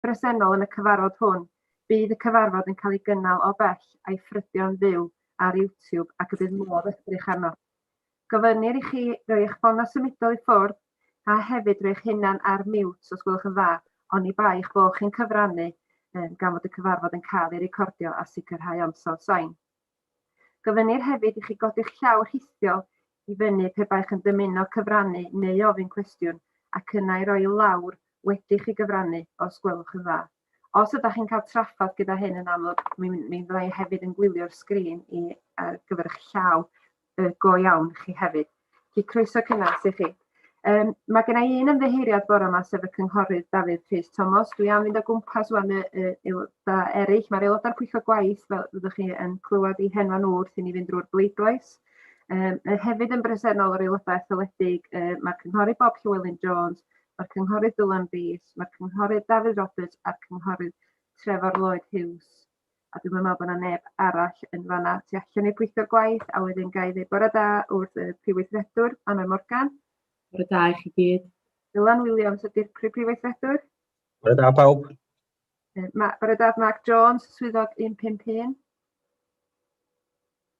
bresennol yn y cyfarfod hwn, bydd y cyfarfod yn cael ei gynnal o bell a'i ffrydio'n fyw ar YouTube ac y bydd modd edrych arno. Gofynnir i chi roi eich ffonau symudol i ffwrdd a hefyd roi eich hunan ar mute os gwelwch yn dda, oni bai eich bod chi'n cyfrannu gan fod y cyfarfod yn cael ei recordio a sicrhau ansawdd sain. Gofynnir hefyd i chi godi'ch llaw rhithiol i fyny pe baech yn dymuno cyfrannu neu ofyn cwestiwn ac yna ei roi i lawr wedi i chi gyfrannu, os gwelwch yn dda. Os ydych chi'n cael trafferth gyda hyn yn amlwg mi fydda i hefyd yn gwylio'r sgrin i ar gyfer eich llaw. yy go iawn chi hefyd. Felly croeso cynnes i chi. Um, mae gen i un ymddeheuriad bore yma sef y cynghorydd Dafydd Rhys Thomas. Dwi am fynd o gwmpas wan y, y aelodau eraill. Mae'r aelodau'r pwyllgor gwaith, fel fyddwch chi yn clywed i henwa nhw wrth i ni fynd drwy'r bleidlais. Um, hefyd yn bresennol yr aelodau etholedig, uh, mae'r cynghorydd Bob Llywelyn Jones, mae'r cynghorydd Dylan Rees, mae'r cynghorydd Dafydd Roberts a'r cynghorydd Trevor Lloyd Hughes. a dwi'm yn me'wl bo' 'na neb arall yn fan 'na tu allan i'r pwyllgor gwaith a wedyn ga i ddeud bore da wrth y Prif Weithredwr Anwen Morgan. Bore da i chi gyd. Dylan Williams ydi'r Prif Prif Weithredwr. Bore da pawb. Yy ma' bore da Mark Jones, swyddog 151.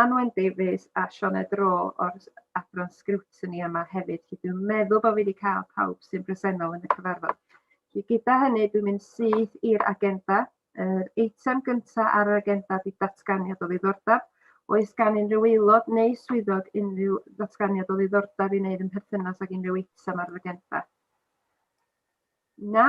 Anwen Davies a Sioned Rowe o'r Adran Sgriwtini yma hefyd, felly dwi'n meddwl bod fi wedi cael pawb sy'n bresennol yn y cyfarfod. Felly gyda hynny, dwi'n mynd syth i'r agenda. Yr eitem gyntaf ar yr agenda ydy datganiad o ddiddordeb. Oes gan unrhyw aelod neu swyddog unrhyw ddatganiad o ddiddordeb i wneud yn perthynas ag unrhyw eitem ar yr agenda? Na.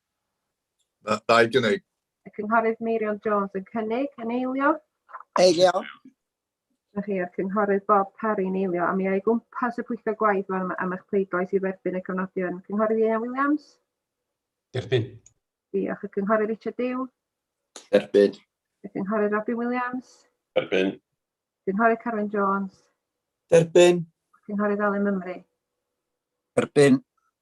Na, da i gynnig. Y Cynghorydd Meirion Jones yn cynnig yn eilio. Eilio. Diolch chi, a'r Cynghorydd Bob Parry'n eilio. A mi o'i gwmpas y pwyllgor gwaith fan am eich pleidlais i dderbyn y cofnodion. Cynghorydd Ieuan Williams? Derbyn. Diolch. Y Cynghorydd Richard Dew? Derbyn. Y Cynghorydd Robin Williams? Derbyn. Cynghorydd Carwyn Jones? Derbyn. Cynghorydd Alun Mymru? Derbyn.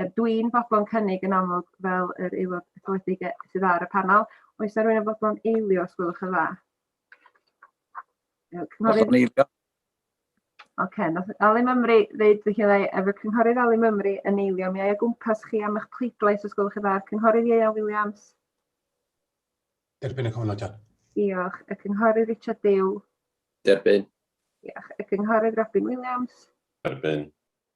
Yy dwi'n fodlon cynnig yn amlwg fel yr aelod etholedig e- sydd ar y panel. Oes 'na rywun yn fodlon eilio os gwelwch yn dda? Yy, Cynghorydd... Hoffwn eilio. Ocê, nath Alun Mymru ddeud felly fyddai efo Cynghorydd Alun Mymru yn eilio. Mi ai o gwmpas chi am eich pleidlais os gwelwch yn dda. Cynghorydd Ieuan Williams, Derbyn y cofnodion. diolch. Y Cynghorydd Richard Dew, Derbyn. diolch. Y Cynghorydd Robin Williams, Derbyn.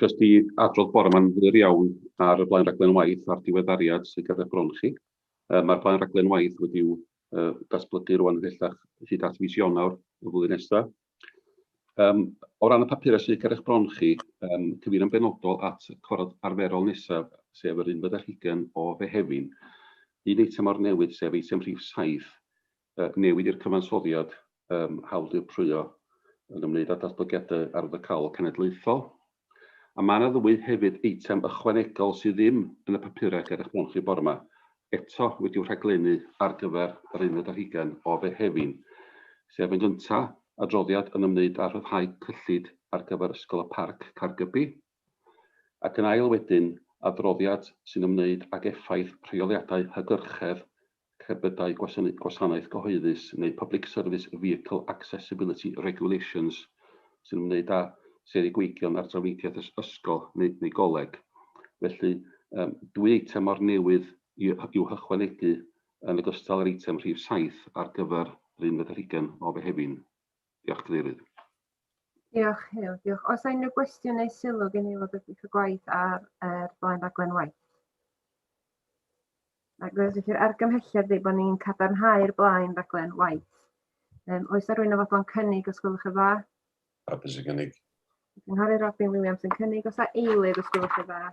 Jyst i adrodd bore yma yn fyr iawn ar y blaen raglen waith a'r diweddariad sydd ger eich bron chi. Mae'r blaen raglen waith wedi'w datblygu rwan ymhellach hyd at fis Ionawr y flwyddyn nesaf. Um, o ran y papurau sydd ger eich bron chi, um, cyfeirio'n benodol at y corod arferol nesaf, sef yr un fyddech hugen o Fehefin. Un eitem o'r newydd, sef eitem rhif 7, Newid i'r Cyfansoddiad um Hawl Dirprwyo yn ymwneud â Datblygiadau Arwyddocaol Cenedlaethol. A mae yna ddwy hefyd eitem ychwanegol sydd ddim yn y papurau ger eich bron chi bore yma, eto wedi'u rhaglennu ar gyfer yr unfed ar hugain o Fehefin, sef yn gyntaf, adroddiad yn ymwneud â rhyddhau cyllid ar gyfer Ysgol y Parc, Caergybi, ac yn ail wedyn, adroddiad sy'n ymwneud ag effaith rheoliadau hygyrchedd cerbydau gwasanaeth gyhoeddus neu Public Service Vehicle Accessibility Regulations sy'n ymwneud â seigweigion ar drafnidiaeth ysgol neu goleg. Felly, dwy eitem o'r newydd i'w hychwanegu yn ogystal â'r eitem rhif saith ar gyfer yr unfed ar hugain o Fehefin. Diolch, Cadeirydd. Diolch, Hugh. Diolch. Os yna unrhyw gwestiwn neu sylw gen i fod wedi cael gwaith ar er, blaen raglen waith? Ac fe ydych chi'r argymhelliad ydy bod ni'n cadarnhau'r blaen raglen waith. Um, oes yna rwy'n ofodlon cynnig os gwelwch yn dda? Hapus i gynnig. Cynghori Robin Williams yn cynnig os yna eilydd os gwelwch yn dda.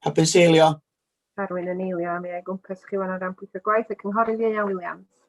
Hapus eilio. Arwyn yn eilio, mi ei gwmpas chi wan o ran pwyth y gwaith y cynghori Ieuan Williams.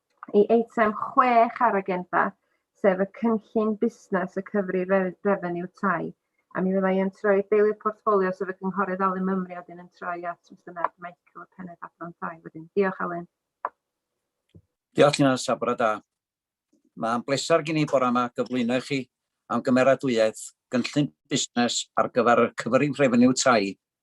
i eitem chwech ar agenda, sef y cynllun busnes y cyfri refeniw tai, a mi fyddai yn troi deilydd portffolio sef y Cynghorydd Alun Mymru a wedyn yn troi at Mr Ned Michael, y Pennaeth Adran Tai wedyn. Diolch Alun. Diolch Tina, sabra da. Mae'n bleser gen i bore yma gyflwyno i chi am gymeradwyaeth gynllun busnes ar gyfer y cyfrif refeniw tai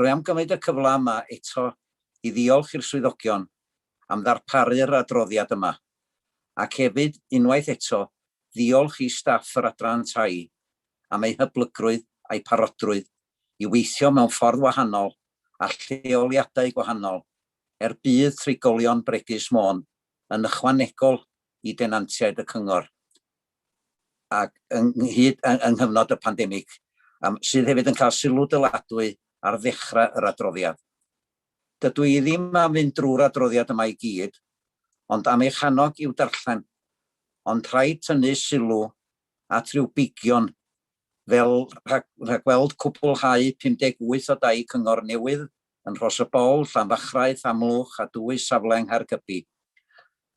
Rwy am gymryd y cyfle yma eto i ddiolch i'r swyddogion am ddarparu'r adroddiad yma, ac hefyd, unwaith eto, ddiolch i staff yr Adran Tai am eu hyblygrwydd a'u parodrwydd i weithio mewn ffordd wahanol a lleoliadau gwahanol, er budd trigolion bregus Môn, yn ychwanegol i denantiaid y Cyngor. ac ynghyd yng nghyfnod y pandemig, sydd hefyd yn cael sylw dyladwy ar ddechrau yr adroddiad. Dydw i ddim am fynd drwy'r adroddiad yma i gyd, ond am eich annog i'w darllen, ond rhaid tynnu sylw at ryw bigion fel rhagweld cwblhau 58 o dai cyngor newydd yn Rhos-y-bol, Llanfachrau, Llanmlwch a dwy safle yng Nghaergybi,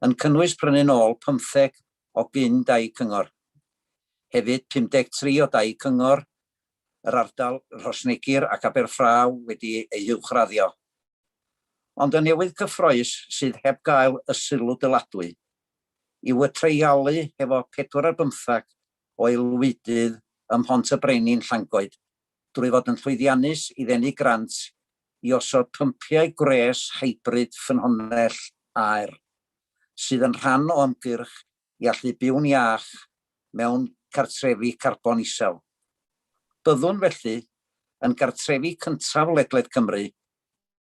yn cynnwys prynu'n ôl pymtheg o gyn dai cyngor. Hefyd, 53 o dai cyngor yr ardal, Rhosneigr ac Aberffraw wedi eu huwchraddio. Ond y newydd cyffrous sydd heb gael y sylw dyladwy yw y treialu hefo pedwar ar bymthag o aelwydydd ym Mhont y Brenin, Llangoed, drwy fod yn llwyddiannus i ddenu grant i osod pympiau gwres hybrid ffynhonnell aer. sydd yn rhan o ymgyrch i allu byw'n iach mewn cartrefi carbon isel. Byddwn, felly, yn gartrefi cyntaf ledled Cymru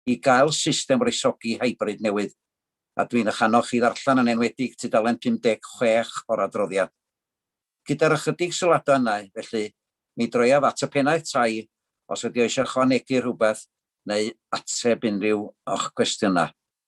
i gael system wresogi hybrid newydd, a dwi'n eich annog chi ddarllen yn enwedig tudalen 56 o'r adroddiad. Gyda'r ychydig sylwadau yna, felly, mi droiaf at y Pennaeth Tai os ydy o eisiau ychwanegu rhywbeth neu ateb unrhyw o'ch cwestiynau.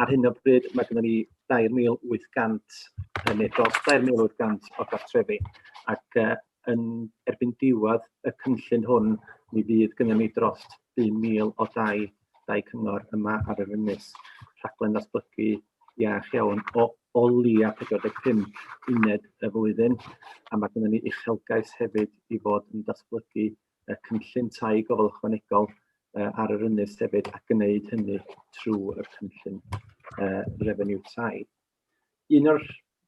Ar hyn o bryd mae gennym ni 2,800 yn neu dros 2,800 o gartrefi ac uh, yn erbyn diwedd y cynllun hwn mi fydd gennym ni dros 2,000 o dai, dai cyngor yma ar yr ynys. Rhaglen ddatblygu iach iawn o, o lia 45 uned y flwyddyn a mae gennym ni uchelgais hefyd i fod yn datblygu y cynllun tai gofal ychwanegol ar yr ynys hefyd a gwneud hynny trwy'r cynllun refeniw tai. Un o'r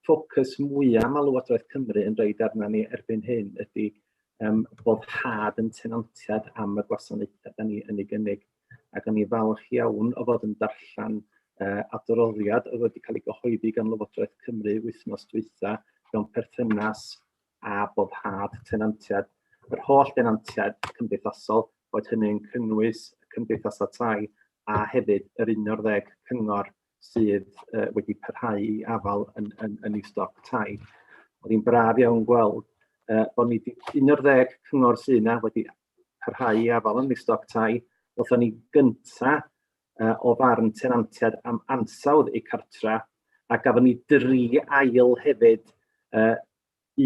ffocws mwyaf mae Llywodraeth Cymru yn rhaid arna ni erbyn hyn ydy um, boddhad yn tenantiad am y gwasanaethau da ni yn ei gynnig. Ac o'n i falch iawn o fod yn darllen uh, adroddiad oedd wedi cael ei gyhoeddi gan Lywodraeth Cymru wythnos dwytha mewn perthynas a boddhad tenantiaid yr holl denantiaid cymdeithasol, boed hynny'n cynnwys y cymdeithasau tai a hefyd yr 11 cyngor sydd uh, wedi parhau i afael yn, yn, yn ei stoc tai. Oedd hi'n braf iawn gweld uh, bod ni 11 cyngor sydd yna wedi parhau i afael yn ei stoc tai. Oedd ni gynta uh, o farn tenantiad am ansawdd eu cartra a gafon ni dri ail hefyd uh,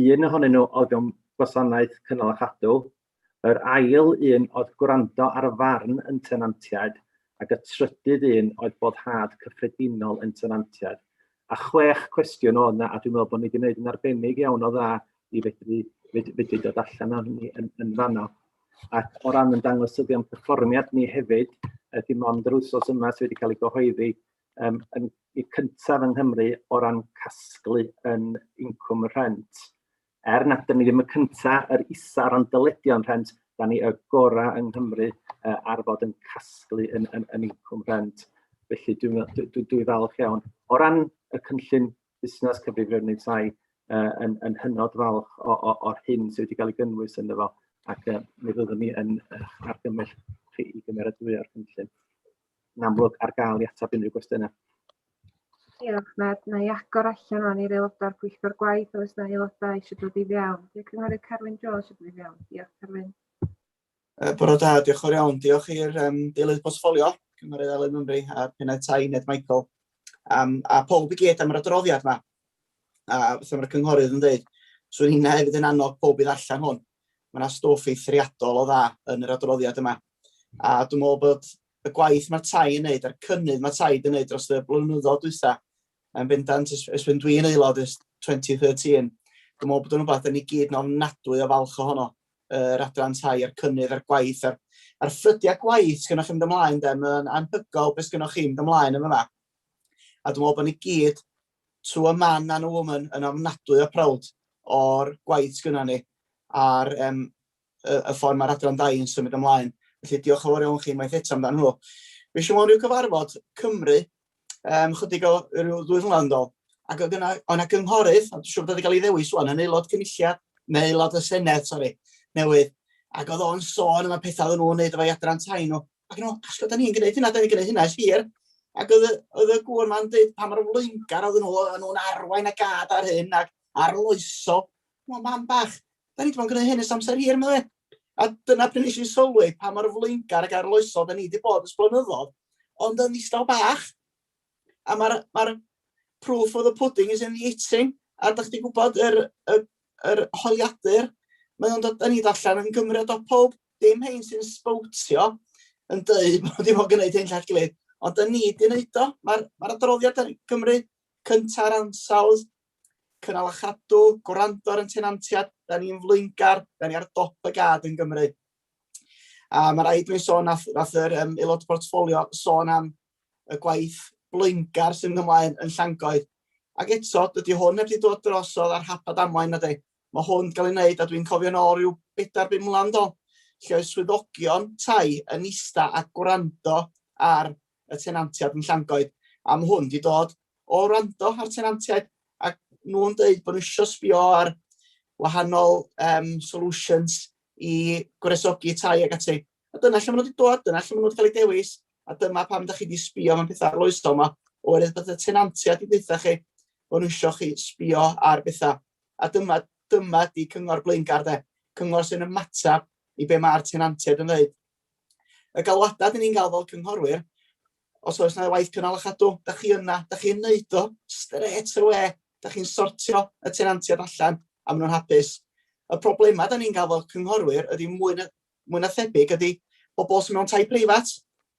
Un ohonyn nhw oedd mewn gwasanaeth cynnal a chadw, yr ail un oedd gwrando ar y farn yn tenantiaid ac y trydydd un oedd boddhad cyffredinol yn tenantiaid. A chwech cwestiwn oedd 'na a dwi'n meddwl bod ni 'di wneud yn arbennig iawn o dda i fedru fed- fedru dod allan â hynny yn yn fanno. Ac o ran ein dangosyddion perfformiad ni hefyd, yy dim ond yr wythnos yma sy wedi cael ei gyhoeddi, yym yn y cyntaf yng Nghymru o ran casglu yn incwm rhent. Er nad ydym ni ddim y cyntaf, yr isa o ran dyledion rhent, da ni y gorau yng Nghymru uh, ar fod yn casglu yn, yn, yn incwm rhent. Felly dwi'n dwi, dwi, dwi falch iawn. O ran y cynllun busnes cyfrifiadau tai, uh, yn, yn hynod falch o'r hyn sydd wedi cael ei gynnwys yn efo ac uh, mi fyddwn ni yn uh, argymell chi i gymeradwyo'r cynllun. yn amlwg ar gael i ateb unrhyw gwestiynau. Diolch, Ned. Na i agor allan o'n i'r aelodau'r pwyllgor gwaith os na aelodau eisiau dod i fewn. Dwi'n cynghorydd Carwyn Jones eisiau dod i fewn. Diolch, Carwyn. Uh, Bore da, diolch o'r iawn. Diolch i'r um, deilydd bosffolio, cynghorydd Elen Mymru a'r pennaeth tai Ned Michael. Um, a pob i gyd am yr adroddiad yma. A beth mae'r cynghorydd yn dweud, swn i'n hefyd yn annog pob i ddarllen hwn. Mae yna stwff eithriadol o dda yn yr adroddiad yma. A dwi'n meddwl bod y gwaith mae tai yn neud a'r cynnydd mae tai yn neud dros y blynyddoedd dwytha yn bendant ys, ys fy dwi'n aelod ys 2013. Dwi'n meddwl bod yn rhywbeth yn ei gyd yn ofnadwy o falch ohono yr uh, adran tai a'r cynnydd a'r gwaith a'r, ar ffrydiau gwaith sy'n gennych chi'n mynd ymlaen de, mae'n anhygol beth sy'n gennych chi'n mynd ymlaen yn yma. A dwi'n meddwl bod ni gyd, to a man and a woman, yn ofnadwy o prawd o'r gwaith sy'n gennych ni a'r um, y, y ffordd mae'r adran dau yn symud ymlaen. Felly diolch yn fawr iawn chi unwaith eto amdano nhw. Fe siw mewn rhyw cyfarfod Cymru, um, chydig o rhyw ddwy flynedd yn dol, ac oedd yna, o'na gynghorydd, a dwi'n siŵr bod wedi cael ei ddewis wan, yn aelod cynulliad, neu aelod y Senedd, sori, newydd, ac oedd o'n sôn yma pethau oedd nhw'n wneud efo'i adran tai nhw, ac nhw, os da ni'n gwneud hynna, da ni'n gwneud hynna, es hir, ac oedd, oedd y gŵr ma'n dweud pa mor flaengar oedd nhw, oedd nhw'n arwain y gad ar hyn, ac arloesol, Wel, mam bach, da ni wedi bod yn gwneud hyn ers amser hir, meddwl e. A dyna pryd nes i sylwi pa mor flaengar ac arloesol da ni wedi bod yn sblynyddodd, ond yn ddistaw bach. A mae'r ma proof of the pudding is in the eating, a da chdi gwybod yr, yr, yr holiadur, mae o'n dod yn ei allan yn Gymru o dop pob, dim hyn sy'n sbowtio yn dweud bod wedi bod yn gwneud hyn llall gilydd, ond da ni wedi gwneud o, mae'r ma adroddiad yn Gymru cynta'r ansawdd Cynnal a chadw, gwrando ar ein tenantiaid, da ni'n flaengar, da ni ar dop y gad yn Gymru. A mae rhaid dwi'n sôn, nath, nath yr um, aelod portfolio sôn am y gwaith blaengar sy'n ymlaen yn Llangoed. Ac eto, dydy hwn heb wedi dod drosodd ar hap a damwain na di. Mae hwn 'di cael ei wneud a dwi'n cofio'n ôl rhyw bedair bum mlynedd yn ôl lle oedd swyddogion tai yn ista a gwrando ar y tenantiaid yn Llangoed a mae hwn 'di dod o wrando ar tenantiaid a nhw'n dweud bod nhw eisiau sbio ar wahanol um, solutions i gwresogi tai ag ati. A dyna lle maen nhw wedi dod, dyna lle maen nhw wedi cael eu dewis, a dyma pam ydych chi wedi sbio mewn pethau arloesol yma, oherwydd bod y tenantiaid wedi dweud chi bod nhw eisiau chi sbio ar bethau. A dyma, dyma ydi cyngor blaengar de, cyngor sy'n ymateb i be mae'r tenantiaid yn dweud. Y galwadau dyn ni'n gael fel cynghorwyr, os oes yna waith cynnal a chadw, da chi yna, da chi'n neud o stret yr we, da chi'n sortio y tenantiaid allan a maen nhw'n hapus. Y problemau da ni'n gael fel cynghorwyr ydy mwy na, mwy na thebyg ydy bobl sy'n mewn tai preifat,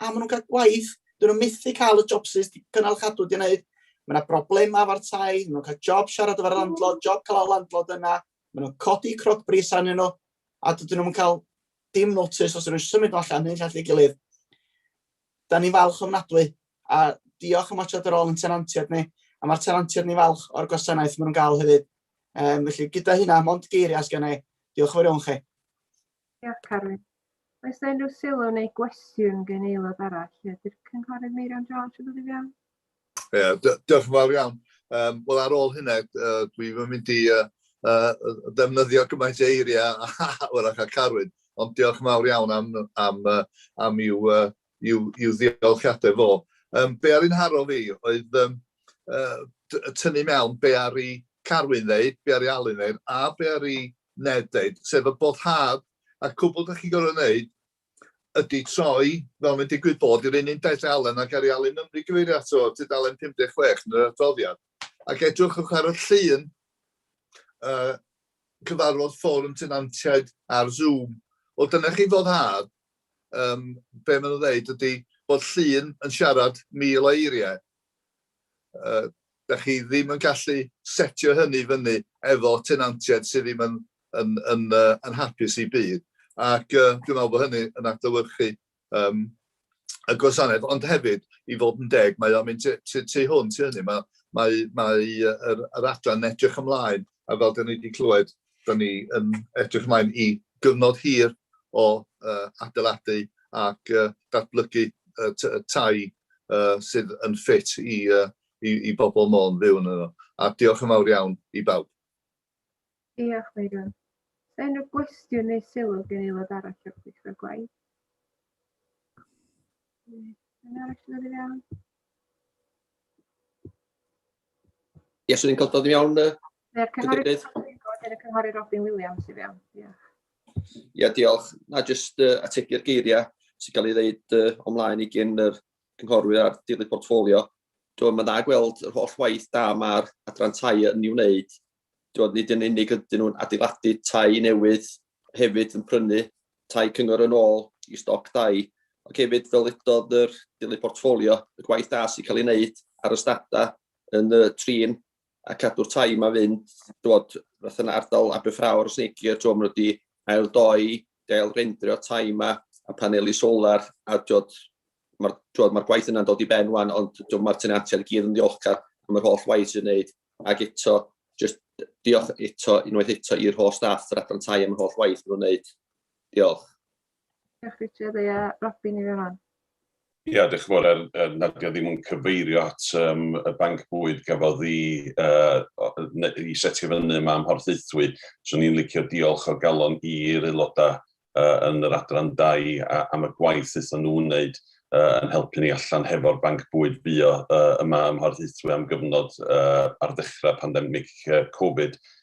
a maen nhw'n cael gwaith, dyn nhw'n methu cael y jobsus cynnal chadw di'n neud. Mae yna broblema efo'r tai, maen nhw'n cael job siarad efo'r landlord, job cael y landlord yna, maen nhw'n codi croc bris arnyn nhw, a dydyn nhw'n cael dim notice os ydyn nhw'n symud allan neu'n llall ei gilydd. Da ni'n falch ofnadwy, a diolch am atod yr ôl yn tenantiaid ni, a mae'r tenantiaid ni falch o'r gwasanaeth maen nhw'n gael hefyd. Um, felly gyda hynna, mond geiriau sgan ei, diolch yn fawr iawn chi. Diolch, Carwyn. Oes yna unrhyw sylw neu gwestiwn gen aelod arall? Ydy'r cynghorydd Meirion Jones yn dod i fewn? Ie, diolch yn fawr iawn. Um, Wel, ar ôl hynna, uh, dwi'n mynd i uh, uh, ddefnyddio gymaint o eiriau wrach a Carwyn, ond diolch yn fawr iawn am, am, uh, am i'w, uh, i'w, i'w ddiolchiadau fo. Um, be ar un haro fi oedd um, uh, tynnu mewn be ar i Carwyn ddeud, be ar i Alun ddeud, a be ar i Ned, sef y boddhad a'r cwbl dach chi'n gorfod wneud ydy troi, fel mae'n digwydd bod, i'r un un dudalen a Gary Alun Nymru gyfeirio ato fo, tudalen 56 yn yr adroddiad, ac edrychwch ar y llun uh, cyfarfod fforwm tenantiaid ar Zoom. Wel, dyna chi foddhad, um, be maen nhw'n dweud ydy bod llun yn siarad mil o eiriau, Yy, 'dach chi ddim yn gallu setio hynny i fyny efo tenantiaid sydd ddim yn yn yn yy yn hapus i byd, ac yy dwi'n meddwl bod hynny yn adlewyrchu yym y gwasanaeth, ond hefyd, i fod yn deg, mae o'n mynd tu, tu, tu hwnt i hynny. Mae, mae, mae yr, yr adran edrych ymlaen, a fel da ni wedi clywed, da ni yn edrych ymlaen i gyfnod hir o uh, adeiladu ac uh, datblygu uh, tai uh, sydd yn ffit i, uh, i, i bobl Môn fyw yn yno. A diolch yn fawr iawn i bawb. Diolch, Megan. Unrhyw gwestiwn neu sylw gen i lod arall o'r pwyllgor gwaith? Yn arall yn iawn? Ie, swn i'n cael dod i mewn, Ie, Cynghorydd Robin, Cynghorydd Robin Williams i fewn. Ie, yeah, diolch. Na, jyst uh, ategu'r geiriau sy'n cael ei ddeud uh, omlaen i gyn yr cynghorwyr a'r dirlith portfolio. Dwi'n mynd dda gweld yr holl waith da mae'r adran tai yn ei wneud. Dwi'n nid yn unig ydyn nhw'n adeiladu tai newydd, hefyd yn prynu tai cyngor yn ôl i stoc dai, ac hefyd fel edodd yr dirlith portfolio, y gwaith da sy'n cael ei wneud ar ystadau yn y trin a cadw'r tai yma fynd, dod, fath yna ardal Aberffrawr os neigio, ti'n maen nhw wedi ail doi, gael rendrio tai yma, a paneli solar, a dod, mae'r ma gwaith yna'n dod i ben wan, ond dwi'n mae'r tenantiaid i gyd yn ddiolchgar am yr holl waith sy'n wneud, ac eto, just diolch eto, unwaith eto, i'r holl staff yr adran tai am yr holl waith maen nhw'n wneud. Diolch. Diolch Richard, a ia, Robin i fewn wan. Ia, diolch yn fawr, er, er nad yw ddim yn cyfeirio at um, y banc bwyd gafodd i, uh, i setio fyny yma am horthaethwy, swn i'n licio diolch o galon i'r aelodau uh, yn yr adran dau a, am y gwaith wnaethon nhw wneud uh, yn helpu ni allan hefo'r banc bwyd bio uh, yma ym Mhorthaethwy am gyfnod uh, ar ddechrau pandemig uh, Covid.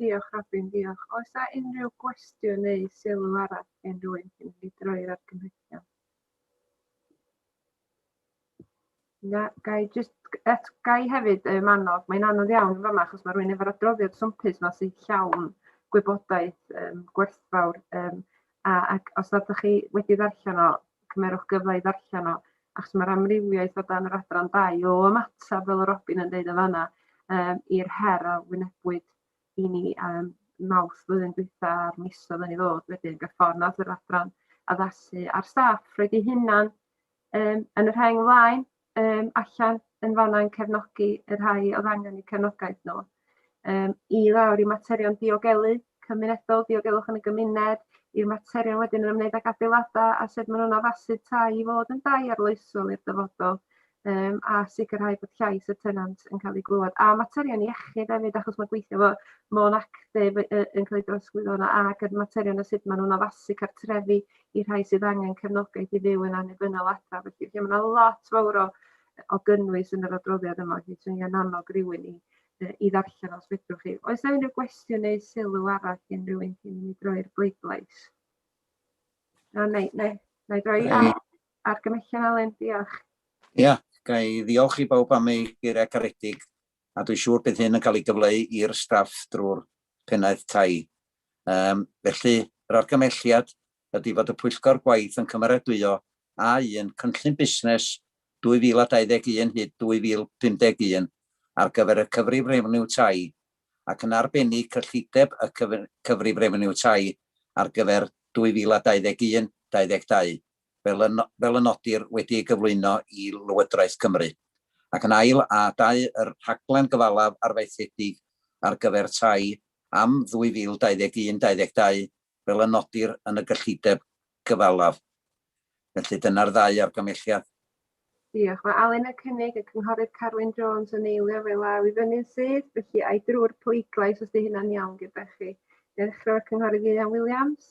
Diolch Robin, diolch. Oes a unrhyw gwestiwn neu sylw arall gen rwy'n cyn i droi'r argymhellion? Na, gai just, et, gai hefyd um, annog, mae'n anodd iawn yn fama achos mae rwy'n efo'r adroddiad swmpus yma sy'n llawn gwybodaeth um, gwerthfawr um, A ac os nad ydych chi wedi ddarllen o, cymerwch gyfle i ddarllen o, achos mae'r amrywiaeth o dan yr adran dau o ymateb, fel y Robin yn dweud yn fanna, um, i'r her a wynebwyd i ni um, mawrth flwyddyn dwytha a'r misodd yn ei ddod wedyn, gyda ffordd nad yr adran addasu a'r staff roed ei hunan um, yn y rheng flaen um, allan yn fanna yn cefnogi y rhai oedd angen y cefnogaeth nhw. Um, I lawr i materion diogelu cymunedol, diogelwch yn y gymuned, i'r materion wedyn yn ymwneud ag adeiladau a sut maen nhw'n addasu tai i fod yn dai arloesol i'r dyfodol um, a sicrhau bod llais y tenant yn cael ei glywed. A materion iechyd hefyd, achos mae gweithio fo Mon Actif yn cael ei drosglwyddo yna ac yr materion a sut maen nhw'n addasu cartrefi i'r rhai sydd angen cefnogaeth i fyw yn annibynnol adra. Felly, lle mae yna lot fawr o, o gynnwys yn yr adroddiad yma, felly swnio'n annog rhywun i, i ddarllen os fedrwch chi. Oes yna unrhyw gwestiwn neu sylw arall gen rhywun cyn i mi droi'r bleidlais? Na, neu, neu, neu droi ar, ar gymhellion Alen, diolch. Ia, yeah, ga i ddiolch i bawb am ei geiriau caredig, a dwi'n siŵr bydd hyn yn cael ei gyfleu i'r staff drwy'r pennaeth tai Um, felly, yr argymelliad ydy fod y pwyllgor gwaith yn cymeradwyo A1 Cynllun Busnes 2021 hyd 2051 ar gyfer y Cyfrif Refeniw Tai, ac yn arbennig cyllideb y Cyfrif Refeniw Tai ar gyfer 2021-22. fel y nodir, wedi ei gyflwyno i Lywodraeth Cymru, ac yn ail, a dau, yr rhaglen gyfalaf arfaethedig ar gyfer tai am 2021 22 fel y nodir yn y gyllideb gyfalaf. Felly, dyna'r ddau argymhelliad. Diolch. Mae Alun yn cynnig y Cynghorydd Carwyn Jones yn eilio fe law i fyny'n syth, felly ai drwy'r pleidlais os 'di hynna'n iawn gyda chi? Dechrau o'r Cynghorydd Ieuan Williams.